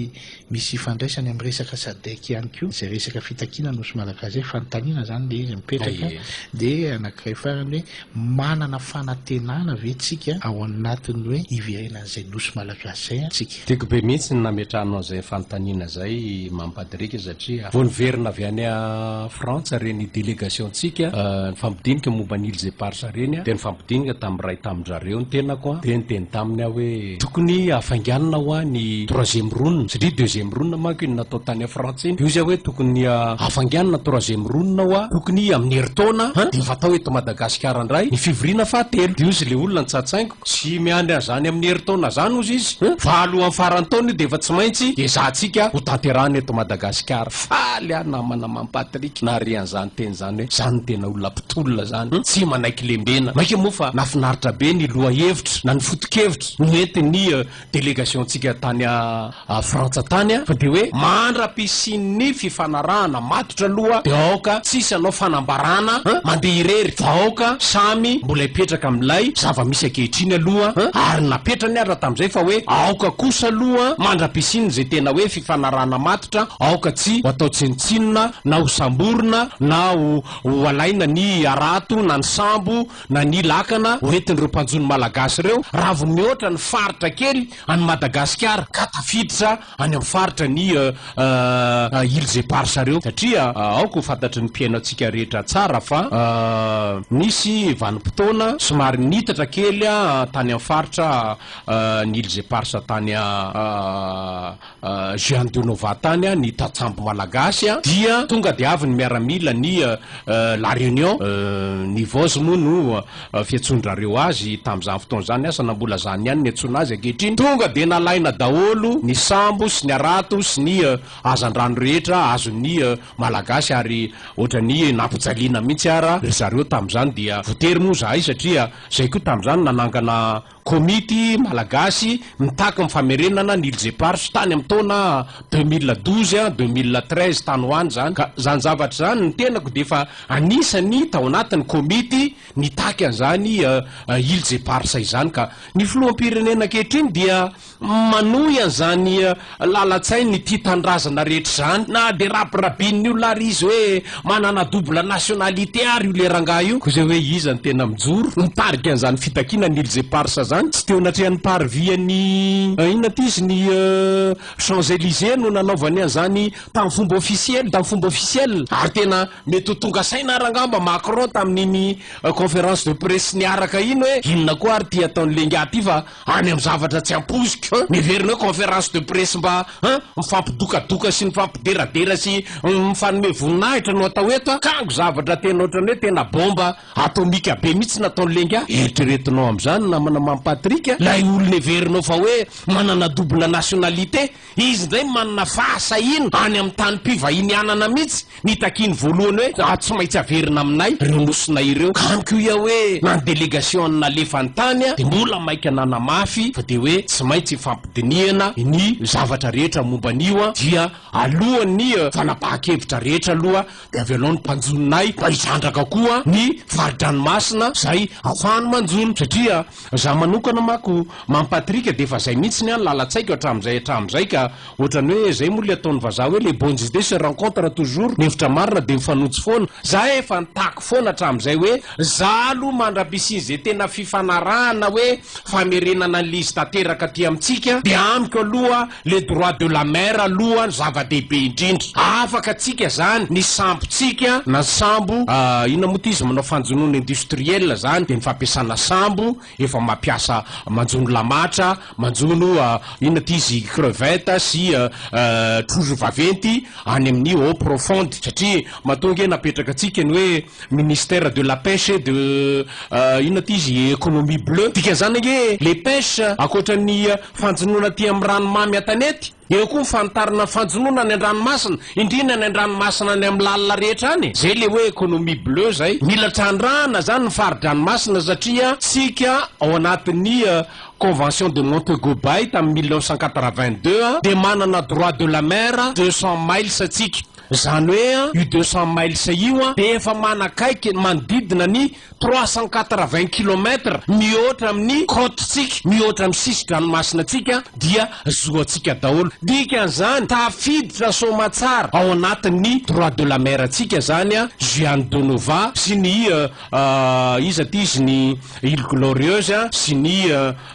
misy ifandraisany amin'ny resaka sadec ihany koa izay resaka fitakiana ny Nosy Malagasy izay fanontaniana izany ilay izy mipetraka dia anankiray farany hoe Manana fanantenana ve tsika ao anatin'ny hoe hiverena an'izay Nosy Malagasy izay an tsika? Tiako be mihitsy ny nametrahanao an'izay fanontaniana izay mampadirika satria vao niverina avy any Frantsa ireny delegasiontsika nifampidinika momba ny Îles Éparses ireny dia nifampidinika tamin'ny iray tamin-dry zareo ny tenako dia niteny taminy aho hoe Tokony hafainganina hoa ny troisième round satria deuxième round manko iny natao tany en France iny, io zay hoe tokony hafainganina ny troisième round hoa tokony amin'ny herintaona an dia efa atao eto Madagasikara indray ny fivoriana fahatelo dia ozy le olona nitsatsaingo tsy miandry an'izany amin'ny herintaona zany ozy izy an fa alohan'ny faran'ny taona io dia efa tsy maintsy ezahantsika hotanterahina eto Madagasikara. Faly aho namana Mamy Patrick nahare an'izany teny izany. Zany hoe zany tena olona mpitolona zany tsy manaiky lembena. Maika moa fa nafinaritra be ny lohahevitra na ny fotokevitra noentin'ny delegationtsika tany Frantsa tany a, fa dia hoe mandra-pisian'ny fifanarahana matotra aloha dia aoka tsisy anao fanambarana an, mandeha irery fa aoka samy mbola hipetraka amin'ilay zava-misy ankehitriny aloha an, ary napetrany ary raha tamin'izay fa hoe aoka kosa aloha mandra-pisian'izay tena hoe. fanarahana matotra, aoka tsy ho atao tsinontsinona na ho samborina na ho ho alaina ny harato na ny sambo na ny lakana ho entin'ireo mpanjono malagasy ireo raha vao mihoatra ny faritra kely an'i Madagasikara ka tafiditra any amin'ny faritra ny Îles Éparses ireo satria aoka ho fantatry ny mpihaino antsika rehetra tsara fa nisy vanim-potoana somary niitatra kely tany amin'ny faritra ny Îles Éparses tany Juan de Nova tany ny tantsambo malagasy dia tonga dia avy ny miaramila ny La Réunion ny Voz moa no fiantsoan-drareo azy tamin'izany fotoana izany asa na mbola izany ihany ny antsoina azy ankehitriny tonga dia nalaina daholo ny sambo sy ny harato sy ny hazandrano rehetra azon'ny malagasy ary ohatran'ny nampijaliana mihitsy ara ry zareo tamin'izany dia voatery moa izahay satria izahay koa tamin'izany nanangana Komity malagasy mitaky ny famerenana ny Îles Éparses tany amin'ny taona deux mille douze an, deux mille treize tany ho any izany ka izany zavatra izany ny tenako dia efa anisan'ny tao anatin'ny komity nitaky an'izany Îles Éparses izany ka ny filoham-pirenena ankehitriny dia Manohy an'izany lalan-tsain'ity tanindrazana rehetra izany na dia rabirabin'ny olona ary izy hoe manana double nationalité ary io le rangahy io. Koa izay hoe iza no tena mijoro mitarika an'izany fitakiana ny îles éparses izany? Tsy teo anatrehan'ny parvis-n'ny inona ity izy? Ny Champs Elysées no nanaovany an'izany tamin'ny fomba ofisiely, tamin'ny fomba ofisiel. Ary tena mety ho tonga saina ary angamba Macron tamin'iny conférence de presse niaraka iny hoe inona koa ary ity ataon'i lehigahy ity fa any amin'ny zavatra tsy ampoiziko an! Miverina hoe conférence de presse mba an! mifampidokadoka sy mifampideradera sy mifanome voninahitra no atao eto an! kango zavatra tena ohatran'ny hoe tena bomba atomika be mihitsy no ataon'i Lenga an! eritreretinao amin'izany namana Mamy Patrick an! ilay olona heverinao fa hoe manana double nationalité Izy indray manana fahasahiana any amin'ny tanim-pivahinianana mihitsy. Nitakiany voalohany hoe, Raha tsy maintsy averina aminay ireo nosina ireo. Ka amiko io aho hoe, na ny delegasion'ny nalefany tany dia mbola maika nanamafy fa dia hoe tsy maintsy ifampidinihana ny zavatra rehetra momba an'io dia alohan'ny fanapahan-kevitra rehetra aloha. Dia avy anao ny mpanjoninay mba hizandraka koa ny fari-dranomasina izay afahany manjono satria za manokana mako mampatrika dia efa izay mihitsy ny an lalan-tsaiko hatramin'izay hatramin'izay ka ohatrany hoe izay moa ilay ataon'ny vazaha hoe les bonnes idées se rencontrent toujours ny hevitra marina dia mifanojo foana za efa nitaky foana hatramin'izay hoe za aloha mandra-pisian'izay tena fifanarahana hoe famerenana an'ilay izy tanteraka aty amintsika dia amiko aloha Le droit de la mer aloha zava-dehibe indrindra. Afaka tsika zany ny sambo tsika na ny sambo inona moa ty izy manao fanjonoana industriel zany de ny fampiasana sambo efa mampiasa manjono lamatra, manjono inona ty izy crevette sy trozo vaventy any amin'ny eau profonde satria matoa nge napetraka tsika ny hoe Ministère de la pêche et de inona ty izy économie bleue dikan'izany ange les pêches ankoatra ny fanjonoana aty amin'ny ranomamy an-tanety eo koa ny fanitarana ny fanjonoana any an-dranomasina indrindra any an-dranomasina any amin'ny lalina rehetra any zay le hoe économie bleue zay mila trandrahana zany ny fari-dranomasina satria tsika ao anatin'ny convention de Montego Bay tamin'ny mille neuf cent quatre-vingt-deux dia manana droit de la mer deux cents miles tsika Izany hoe an, io deux cents miles io an, dia efa manakaiky ny manodidina ny trois cent quatre-vingts kilomètre mihoatra amin'ny côte-tsika, mihoatra amin'ny sisin-dranomasina-tsika dia zoan-tsika daholo. Dikan'izany, tafiditra soamatsara ao anatin'ny droit de la mer-tsika izany an, Juan de Nova sy ny iza ity izy ny Ile Glorieuse sy ny.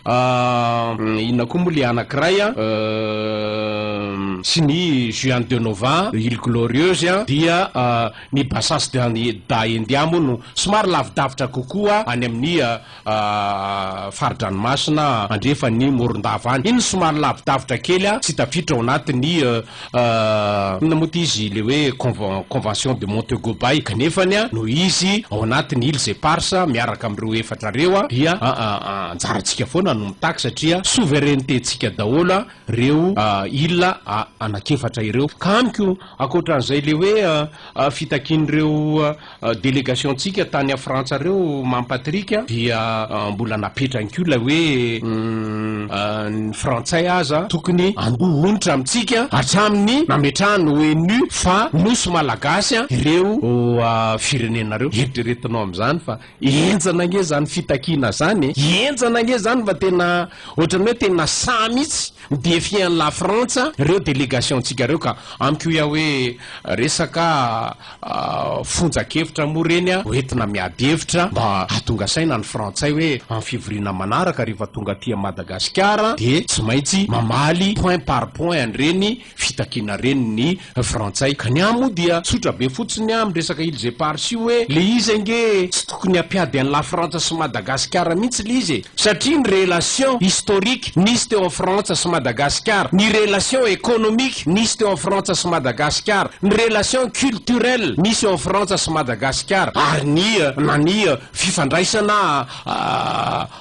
Ahh inona koa moa le anankiray an euh sy ny Juan de Nova an, Ile Glorieuse an dia ny Bassas da India moa no somary lavidavitra kokoa any amin'ny fari-dranomasina andrefan'ny Morondava any, iny somary lavidavitra kely an tsy tafiditra ao anatin'ny Inona moa ity izy le hoe convention de Montego Bay ka nefany a no izy ao anatiny iles eparses miaraka amin'ireo efatra reo a dia anjarantsika foana no mitaky satria souveraineté tsika daholo a reo iles anakefatra ireo ka amiko ankoatran'izay le hoe fitakian'ireo Delegationtsika tany Frantsa reo Mamy Patrick dia mbola napetrany koa ilay hoe ny Frantsay aza tokony andoha onitra amintsika hatramin'ny nametrahany ONU fa Nosy Malagasy ireo firenena reo. Eritreretinao amin'izany fa enjana ange izany fitakiana izany e! Enjana ange izany fa tena ohatrany hoe tena sahy mihitsy mi-defier an'i La Frantsa ireo delegationtsika ireo ka amiko hoy aho hoe resaka fonjan-kevitra moa ireny a, hoentina miady hevitra mba hahatonga saina ny frantsay hoe amin'ny fivoriana manaraka rehefa tonga aty Madagasikara dia tsy maintsy mamaly point par point an'ireny fitakiana ireny ny frantsay ka ny ahy moa dia tsotra be fotsiny amin'ny resaka îles éparses io hoe le izy ange tsy Tokony hampiady an'i Lafrantsa sy Madagasikara mihitsy le izy e! Satria ny relation historique nisy teo am Frantsa sy Madagasikara, ny relation économique nisy teo am Frantsa sy Madagasikara, ny relation culturelle nisy eo am Frantsa sy Madagasikara, ary ny na ny fifandraisana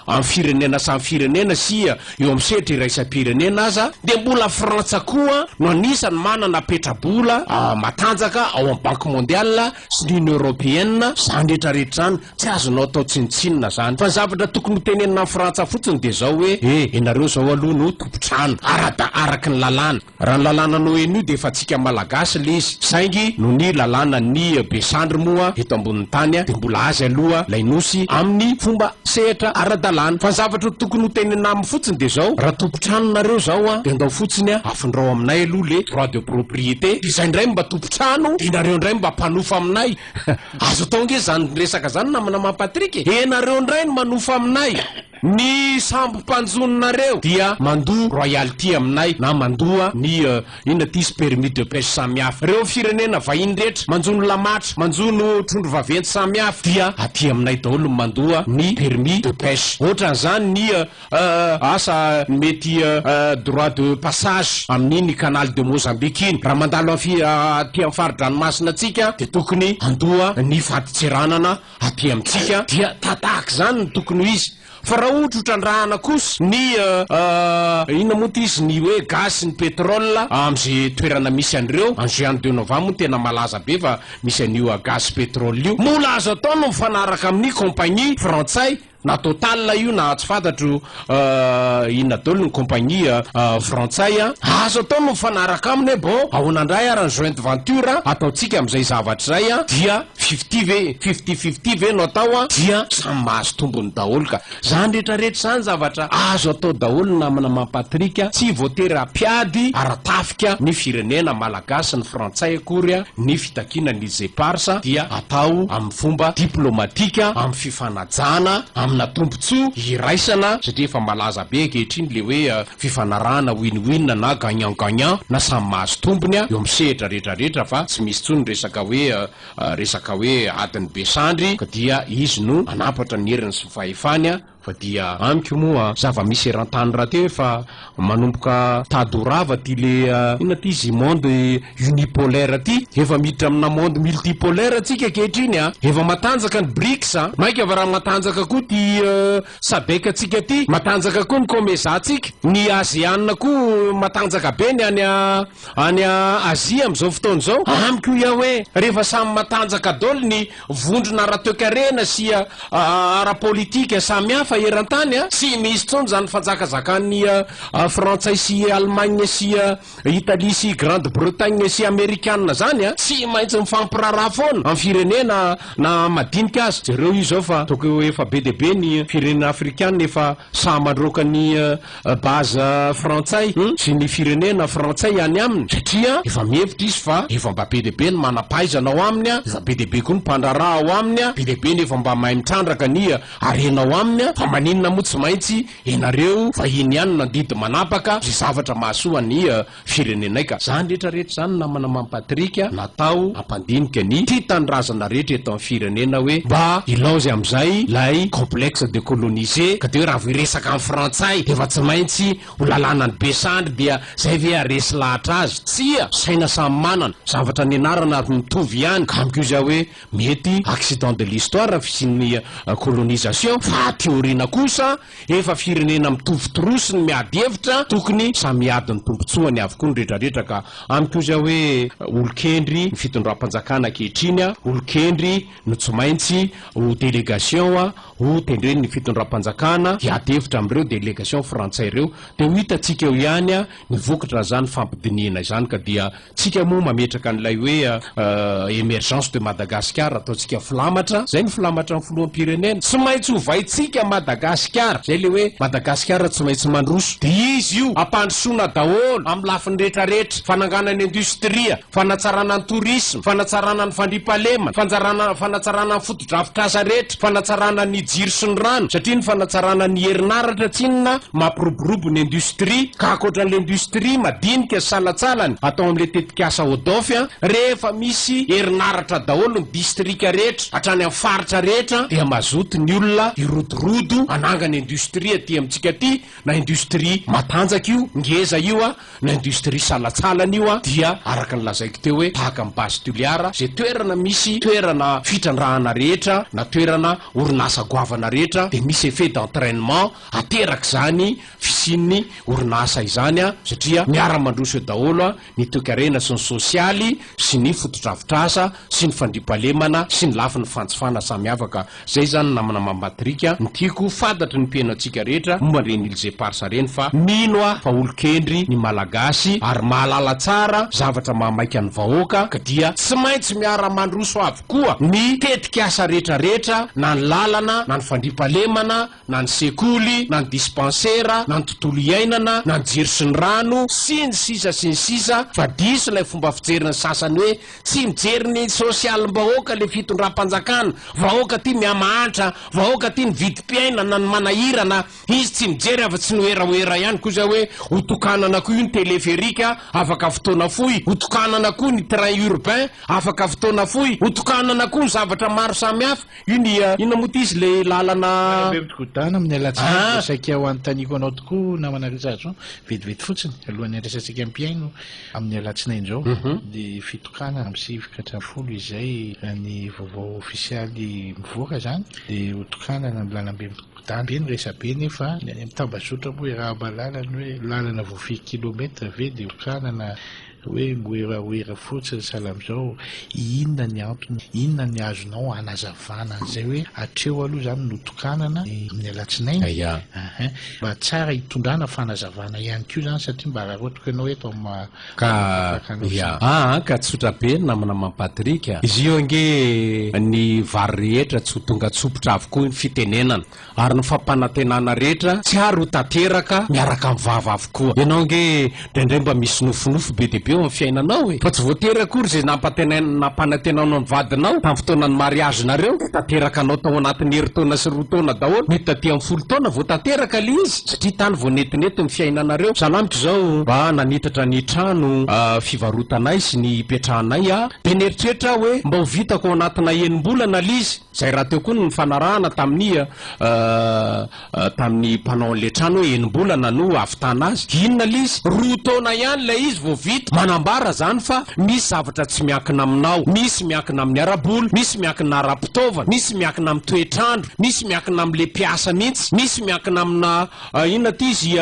am firenena samy firenena sy eo am sehatra iraisam-pirenena aza dia mbola Frantsa koa no anisany manana petra-bola matanjaka ao am Banque Mondiale sy ny Union Européenne zany rehetra rehetra zany tsy azonao atao tsinontsinona zany fa ny zavatra tokony ho tenenina amin'ny Frantsa fotsiny dia zao hoe e ianareo zao aloha no tompotrano arada araky ny lalàna raha ny lalàna n'ONU dia efa tsika malagasy le izy saingy no ny lalàna ny be sandry moa eto ambonin'ny tany dia mbola azy aloha lay nosy amin'ny fomba sehatra aradalàna fa ny zavatra tokony ho tenenina aminy fotsiny dia zao raha tompotrano nareo zao dia andao fotsiny afindrao aminay aloha le droit de propriété dia zay ndray mba trano de nareo ndray mba mpanofa aminay azo atao nge zany resaka zany namana ma Patrick e de nareo ndray no manofa aminay ny sambo mpanjono nareo dia mandoa royalty aminay na mandoa ny inona ty izy permis de peche samy hafa reo firenena vahiny rehetra manjono lamatra manjono trondro vaventy samy hafa dia aty aminay daholo ny mandoa ny permis de peche otran'izany ny Asa mety droit de passage amin'iny canal de Mozambique iny. Raha mandalo aty amin'ny fari-dranomasina antsika dia tokony handoa ny fadintseranana aty amintsika dia tahak'izany no tokony ho izy. Fa raha ohatra hotrandrahana kosa ny inona moa ity izy ny hoe gaz sy ny pétrole amin'izay toerana misy an'ireo. Any Juan de Nova moa no tena malaza be fa misy an'io gaz sy pétrole io. Mbola azo atao ny mifanaraka amin'ny compagnie frantsay. Na Total io na tsy fantatro inona daholo ny compagnie frantsay an! Azo atao ny mifanaraka aminy hoe bon ahoana indray ary ny joint venture ataontsika amin'izay zavatra izay an! Dia fifty ve? Fifty fifty ve no atao an! Dia samy mahazo tombony daholo ka! Izany rehetra rehetra izany zavatra azo atao daholo namana mampatrick an! Tsy voatery hampiady ara-tafika ny firenena malagasy sy ny frantsay akory an! Ny fitakiana ny Zeparsa dia atao amin'ny fomba diplomatika amin'ny fifanarahana. Jana amina tombotsoa iraisana satria efa malaza be ankehitriny le hoe fifanarahana win win na gagnant gagnant na samy mahazo tombony eo amin'ny sehatra rehetra rehetra fa tsy misy intsony resaka hoe resaka hoe adin'ny be sandry ka dia izy no hanampatra ny heriny sy ny fahefany fa dia amiko moa zava-misy eran-tany rahateo efa Manomboka tady ho rava ty le inona ty izy monde unipolaire ty, efa miditra amina monde multipolaire tsika ankehitriny a! Efa matanjaka ny Brics a! Maika va raha matanjaka koa ty Sadec tsika ty, matanjaka koa ny Comesa tsika, ny Asean koa matanjaka be ny any any Asie amizao fotoana izao, amiko iah hoe rehefa samy matanjaka daoly ny Vondrona ara-toekarena sy ara-politika samy hafa eran-tany, tsy misy intsony izany fanjakazakan'ny Frantsay sy Allemagne sy Italie sy Grande Bretagne sy Amerikana izany, tsy maintsy mifampiraharaha foana amin'ny firenena na madinika aza. Jereo io izao fa tokony ho efa be dia be ny firenena afrikana efa Sahy mandroaka ny base frantsay sy ny firenena frantsay any aminy satria efa mihevitra izy fa efa mba be dia be ny manam-pahaizana ao aminy, efa be dia be koa ny mpandraharaha ao aminy, be dia be ny efa mba mahay mitrandraka ny harena ao aminy fa maninona moa tsy maintsy ianareo vahiny ihany nandidy manapaka izay zavatra mahasoa an'i firenenay ka. Zany rehetra rehetra zany namana Mamy Patrick a natao hampandinika ny tia tanindrazana rehetra eto am firenena hoe mba ilaozy amizay lay complexe de colonisé ka de hoe raha vao hiresaka am frantsay de efa tsy maintsy ho lalàna ny be sandry dia zay ve haresy lahatra azy tsia saina samy manana zavatra nianarana ary mitovy ihany ka amiko iza hoe mety accident de l'histoire fisian'ny colonisation fa aty aoriana kosa Efa firenena mitovy trousse ny miady hevitra tokony samy hiady ny tombotsoany avokoa ny retraretra ka amiko izay hoe olokendry ny fitondram-panjakana ankehitriny a, olokendry no tsy maintsy ho délégation a, ho tendren ny fitondram-panjakana hiady hevitra amin'ireo délégation frantsay ireo dia ho hitantsika eo ihany a ny vokatra izany fampidinihina izany ka dia Tsika moa mametraka an'ilay hoe emergence de Madagascar ataontsika filamatra, zay ny filamatran'ny filoham-pirenena, tsy maintsy ovaintsika Madagasikara, zay le hoe Madagasikara tsy maintsy mandroso, de izy io ampandrosoana daholo amin'ny lafiny rehetra rehetra, fananganana industria, fanatsarana ny tourisme, fanatsarana ny fandriampahalemana, fanjarana, fanatsarana ny. Drafitr'asa rehetra, fanatsarana ny jiro sy ny rano, satria ny fanatsarana ny herinaratra tsinona mampiroborobo ny industrie, ka ankoatran'ilay industrie madinika sy salantsalany atao amin'ilay tetikasa ODOF, rehefa misy herinaratra daholo ny distrika rehetra hatrany amin'ny faritra rehetra dia mazoto ny olona hirodorodo hanangana industrie aty amintsika aty, na industrie matanjaka io, ngeza io, Ny industrie salatsalany io dia araka ny lazaiko teo hoe tahaka ny base Toliara izay toerana misy toerana fitrandrahana rehetra na toerana orinasa goavana rehetra dia misy effet d'entrainement ateraka izany fisian'ny orinasa izany satria miara mandroso eo daholo ny toekarena sy ny sosialy sy ny fotodrafitrasa sy ny fandriampahalemana sy ny lafiny fanjifana samiavaka Zay zany namana mampatrika ny tiako fantatry ny mpiheno antsika rehetra momba an'ireny Îles Éparses reny fa mino aho fa olon-kendry ny Malagasy ary mahalala tsara zavatra mahamaika ny vahoaka ka dia tsy maintsy miara-mandroso avokoa ny tetik'asa rehetra rehetra na ny lalana na ny fandriampahalemana na ny sekoly, na ny dispansera, na ny tontolo iainana, na ny jiro sy ny rano, sy ny sisa sy ny sisa, fa diso ilay fomba fijerin'ny sasany hoe tsy mijery ny sosialim-bahoaka ilay fitondram-panjakana, vahoaka ity mihamahantra, vahoaka ity ny vidim-piainana no manahirana, izy tsy mijery afa tsy ny werawera ihany koa izay hoe hotokanana koa io ny teleferika afaka fotoana fohy, hotokanana koa ny train urbain afaka fotoana fohy, hotokanana koa ny zavatra maro samihafa. Inona moa ty izy le lalana. Malembe migodana amin'ny alatsinainy dia saika ho anontaniako anao tokoa namana Richard Jean vetivety fotsiny alohan'ny handraisantsika mpihaino amin'ny alatsinainy izao ny fitokana amin'ny sivy ka hatramin'ny folo izay raha ny vaovao ofisialy mivoaka izany dia ho tokanana ny lalambe migodana be ny resabe nefa ny any amin'ny tambazotra moa iaraha-mahalala ny hoe lalana voafidy kilometra ve dia ho tokanana Hoe mihoerahoera fotsiny sahala amin'izao, inona ny antony? Inona ny azonao hanazavana an'izay hoe hatreo aloha izany notokanana ny amin'ny alatsinainy? Aa mba tsara hitondrana fanazavana ihany koa izany satria mba araraotiko ianao eto amin'ny maha tapaka anao izany. Aa ka tsotra be ny namana maman Patrick a! Izy io ange ny vary rehetra tsy ho tonga tsopitra avokoa ny fitenenana Ary ny fampanantenana rehetra tsy ary ho tanteraka miaraka amin'ny vava avokoa. Ianao ange indraindray mba misy nofinofy be dia be eo amin'ny fiainanao e! Fa tsy voatery akory izay nampantenain nampanantenanao ny vadinao tamin'ny fotoanan'ny mariazinareo dia tanteraka anao tao anatin'ny herintaona sy roa taona daholo. Mety taty amin'ny folo taona vao tanteraka ilay izy satria tany vao netinety ny fiainanareo. Sahala amiko izao, mba nanitatra ny trano fivarotanay sy ny hipetrahanay aho dia nieritreritra aho hoe mba ho vitako ao anatina enim-bolana ilay izy. Izay rahateo koa ny nifanarahana tamin'ny tamin'ny mpanao an'ilay trano hoe enim-bolana no hahavitana azy. Inona ilay izy? Roa taona ihany ilay izy vao vita. Manambara izany fa misy zavatra tsy miankina aminao. Misy miankina amin'ny ara-bola, misy miankina ara-pitaovana, misy miankina amin'ny toetr'andro, misy miankina amin'ilay mpiasa mihitsy, misy miankina amina inona ity izy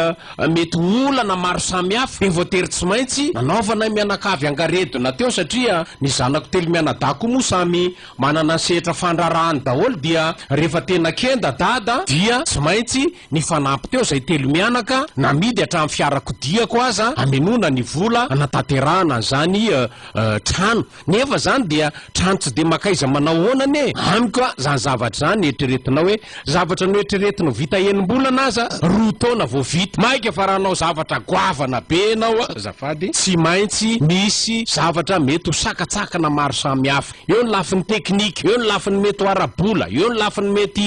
mety ho olana maro samihafa. Dia voatery tsy maintsy nanaovanay mianakavy angaredona teo satria ny zanako telo mianadahy koa moa samy Manana sehatra fandrarahany daholo dia rehefa tena kenda dada dia tsy maintsy nifanampy teo izay telo mianaka namidy hatramin'ny fiarakodiako aza hamenoana ny vola hanatanterahana an'izany trano nefa izany dia trano tsy dia maka iza manao ahoana anie amiko a! izany zavatra izany eritreretinao hoe zavatra noeritreretinao vita enimbolana aza roa taona vao vita mainka fa raha hanao zavatra goavana be ianao azafady tsy maintsy misy zavatra mety ho sakatsakana maro samihafa. Eo ny lafiny teknika, eo ny lafiny mety ho ara-bola, eo ny lafiny mety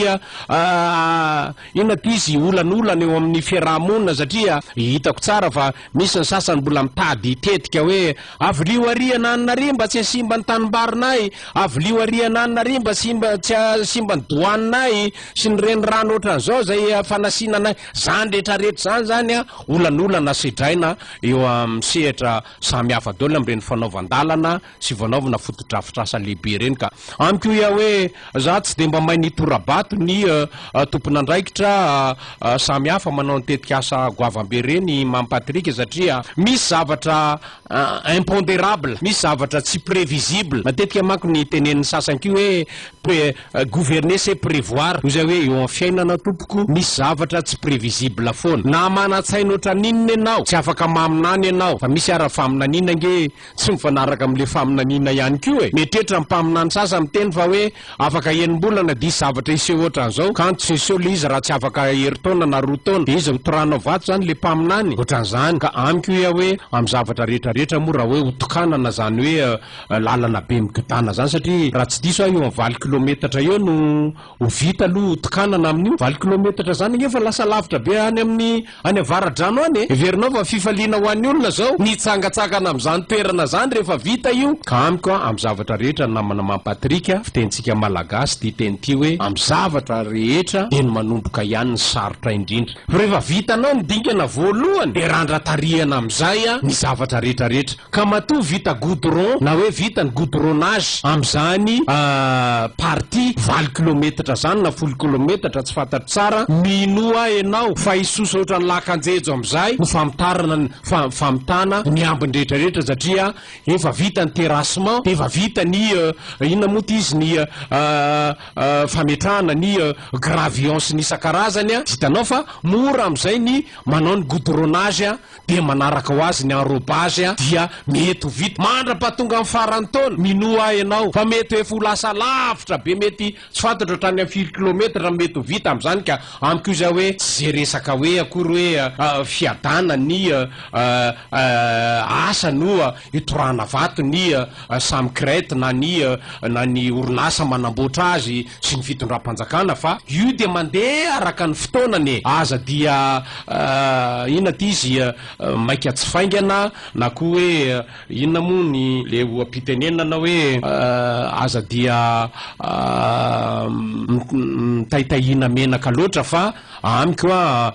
inona ty izy olanolana eo amin'ny fiaraha-monina satria hitako tsara fa misy ny sasany mbola mitady hitetika hoe avilio ary ananona ary mba tsy hasimba ny tanimbarinay, avilio ary ananona ary mba tsy hasimba ny doaninay sy ny renirano ohatran'izao izay fanasina anay. Izany rehetrarehetra izany izany an, olanolana sedraina eo amin'ny sehatra samy hafa daholo amin'ireny fanaovan-dalana. sy voanaovina fotodrafitrasa lehibe ireny ka. Amiko ia hoe za tsy dia mba mahay ny tora-bato ny tompon'andraikitra samy hafa manao ny tetikasa goavambe ireny i Mamy Patrick satria misy zavatra imponderable, misy zavatra tsy previsible. Matetika manko ny tenenin'ny sasany koa hoe pre gouverner c'est prevoir hoy izay hoe eo amin'ny fiainana tompoko misy zavatra tsy previsible foana. Na manan-tsaina ohatran'inona ianao tsy afaka maminany ianao fa misy ara faminaniana ange e! Tsy mifanaraka amin'ilay faminaniana ihany koa e! Mieritreritra ny mpaminany sasany miteny fa hoe afaka enim-bolana diso zavatra hiseho ohatran'izao, kanto tsy hiseho ilay izy raha tsy afaka herintaona na roa taona. Dia iza ho toranao vato izany, ilay mpaminany? Ohatran'izany. Ka amiko hoy aho hoe amin'ny zavatra rehetra rehetra moa raha hoe ho tokanana izany hoe lalana be migodàna izany satria raha tsy diso aho eo amin'ny valo kilometatra eo no Ho vita aloha hotokanana amin'io valo kilometatra izany ange fa lasa lavitra be any amin'ny any avaradrano any e! Heverinao fa fifaliana ho an'ny olona izao ny hitsangatsangana amin'izany toerana izany rehefa vita io? Ka amiko amin'ny zavatra rehetra ry namana Mamy Patrick a, fitenintsika Malagasy ity teny ity hoe, amin'ny zavatra rehetra dia ny manomboka ihany no sarotra indrindra. Fa rehefa vitanao ny dingana voalohany dia randra-tarihana amin'izay ny zavatra rehetra rehetra. Ka matoa vita goudron na hoe vita ny goudronnage amin'izany partie valo kilometatra izany na folo kilometatra tsy fantatro tsara, minoa ahy ianao fa hisosa ohatran'ny lakan-jejo amin'izay ny famotarana ny famitana ny ambiny rehetra rehetra satria efa vita ny terrassement dia efa vita ny inona moa ity izy ny fametrahana ny gravions sy ny isan-karazany, hitanao fa mora amin'izay ny manao ny goudronnage. dia manaraka ho azy ny enrobage dia mety ho vita mandra-pahatonga ny faran'ny taona, minoa ahy ianao fa mety ho efa ho lasa lavitra be mety tsy fantatro hatrany amin'ny firy kilometatra ny mety ho vita amin'izany ka amiko izay hoe tsy izay resaka hoe akory hoe fiadana ny asa no hitorahana vato ny samy crête na ny na ny orinasa manamboatra azy, sy ny fitondram-panjakana fa io dia mandeha araka ny fotoanany e! aza dia inona ity izy maika tsy faingana na koa hoe inona moa ny le oha-pitenenana hoe aza dia mitaitahiana menaka loatra fa amiko a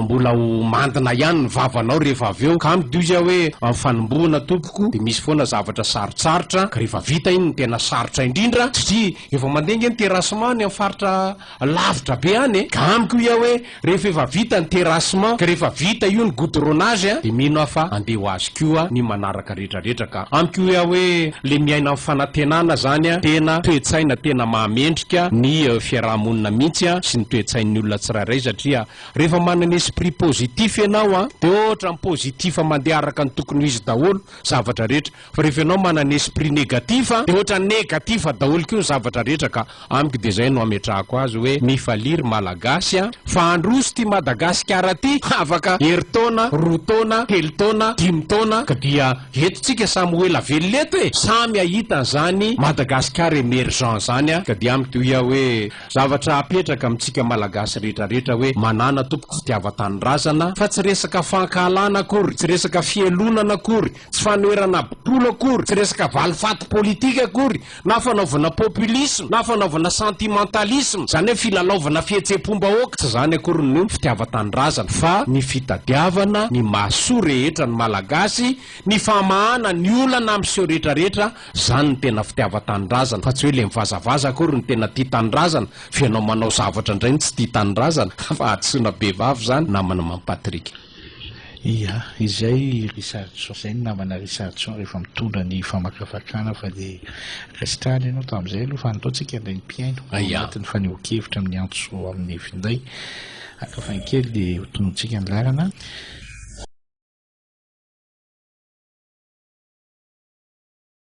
mbola ho mandina ihany ny vavanao rehefa avy eo ka amiko dia hoe amin'ny fanombohana tompoko dia misy foana zavatra sarotsarotra ka rehefa vita iny no tena sarotra indrindra satria Efa mandeha ange ny terrassement any amin'ny faritra lavitra be any e! Ka amiko hoy aho hoe rehefa efa vita ny terrassement ka rehefa vita io ny goudronnage a! dia mino aho fa handeha ho azy koa ny manaraka rehetra rehetra ka amiko hoy aho hoe le miaina amin'ny fanantenana zany a! tena toe-tsaina tena mahamendrika ny fiaraha-monina mihitsy a! sy ny toe-tsain'ny olona tsirairay satria rehefa manana esprit positif ianao a! dia ohatran'ny positif mandeha araka ny tokony ho izy daholo zavatra rehetra Fa rehefa ianao manana esprit negatif dia ohatra negatif daholo koa ny zavatra rehetra ka amiko dia izay no ametrahako azy hoe mifalia ry malagasy a! Fa handroso ity Madagasikara ity afaka herintaona, roa taona, telo taona, dimy taona ka dia eto tsika samy ho ela velona eto e! Samy hahita an'izany Madagasikara emergent izany a! Ka dia amiko dia hoy aho hoe zavatra apetraka amintsika malagasy rehetra rehetra hoe manana tompoko fitiavan-tanindrazana fa tsy resaka fankahalana akory, tsy resaka fihelonana akory Tsy fanoherana bokolo akory, tsy resaka valifaty politika akory, na fanaovana populisme, na fanaovana sentimentalisme, izany hoe filalaovana fihetsem-pom-bahoaka, tsy izany akory ny fitiavan-tanindrazana, fa ny fitadiavana ny mahasoa rehetra ny Malagasy, ny famahana ny olana miseho rehetra rehetra, izany no tena fitiavan-tanindrazana, fa tsy hoe ilay mivazavaza akory no tena tia tanindrazana, fa ianao manao zavatra indray no tsy tia tanindrazana, fa hadisoana bevava izany, naman'i Mame Patrick. Ia, izay Richardson izay ny namana Richardson rehefa mitondra ny famakafakana fa dia resitrahana ianao tamin'izay aloha fa andao tsika indray ny mpihaino ao anatin'ny fanehoan-kevitra amin'ny antso amin'ny finday. Haka fahy kely dia ho tonontsika ny laharana.